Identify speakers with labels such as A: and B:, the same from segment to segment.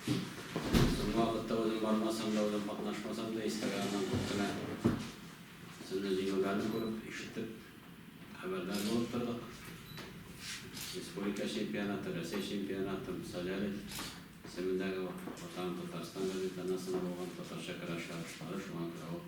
A: Соңгы вакытта үзем бармасам да, үзем катнашмасам да, истәлек аннан күп кенә сезне җиңүләрне күреп, ишетеп, хәбәрдар булып тордык. Республика чемпионаты, Рәсәй чемпионаты, Солярий исемендәге Ватан Татарстан газетанасында булган татарча көрәш ярышлары шуңа күрә ул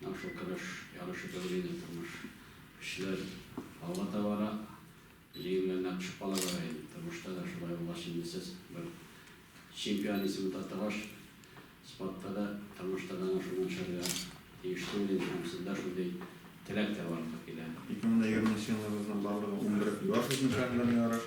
A: Менә шул көрәш ярышы кебек инде тормыш. Көчләр алга таба бара. Җиңүләренә кушып кала бара инде. Тормышта да шулай булгач инде сез бер чемпион исемен татыгач, спортта да, тормышта да әнә шуны эшләргә тиеш түгел инде һәм сездә шундый теләк тә барлык килә. Ике мең дә егерменче елны
B: безнең барлыгы унбер юаш үзенчәлекләрне ярыш.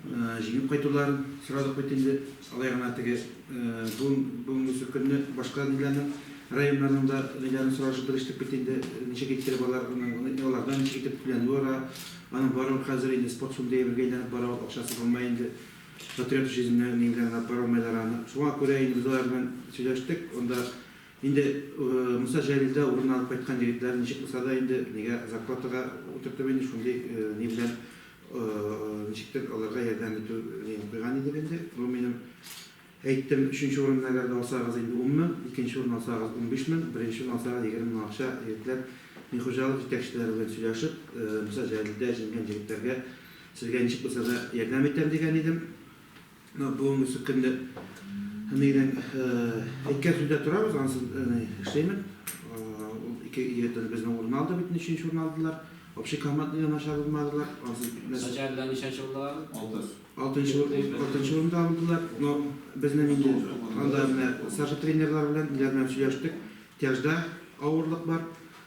C: Җиңеп кайтуларын сорадык бит инде. Алай гына теге бүгенге көнне башка ниләрнең, районнарның да ниләрен сорашып белештек бит инде. Ничек иттереп алар, алардан ничек итеп түләнүе ара. Аның барыбер хәзер инде спорт фонды әйбергә әйләнеп бара ул, акчасы булмый инде. Патриот җизенә нигә генә бара алмыйлар аны. Шуңа күрә инде без алар белән сөйләштек. Анда инде Муса Җәлил дә урын алып кайткан егетләрен ничек булса да инде нигә зарплатага утыртып инде шундый ни белән Ничектер аларга ярдәм итү ният куйган идек инде. Бу минем әйттем, өченче урынны әгәр дә алсагыз инде ун мең, икенче урынны алсагыз унбиш мең, беренчене алсагыз егерме мең акча егетләр мин хуҗалык җитәкчеләре белән сөйләшеп, Муса Җәлилдә җиңгән җегетләргә сезгә ничек булса да ярдәм итәм дигән идем. Менә бүгенге эшсез көндә әнигенең әйткән сүзендә торабыз, ансыз әни эшләйме? Ул ике егетне безнең урынны алды бит, өченче урынны алдылар. Общий командный да начар булмадылар, ансыз бетмәс. Начарда
A: ничәнче урында алдылар? Алтынчы.
C: Алтынчы урында алдылар. Но безнең инде анда менә старший тренерлар белән, ниләр белән сөйләштек. Тяжда авырлык бар.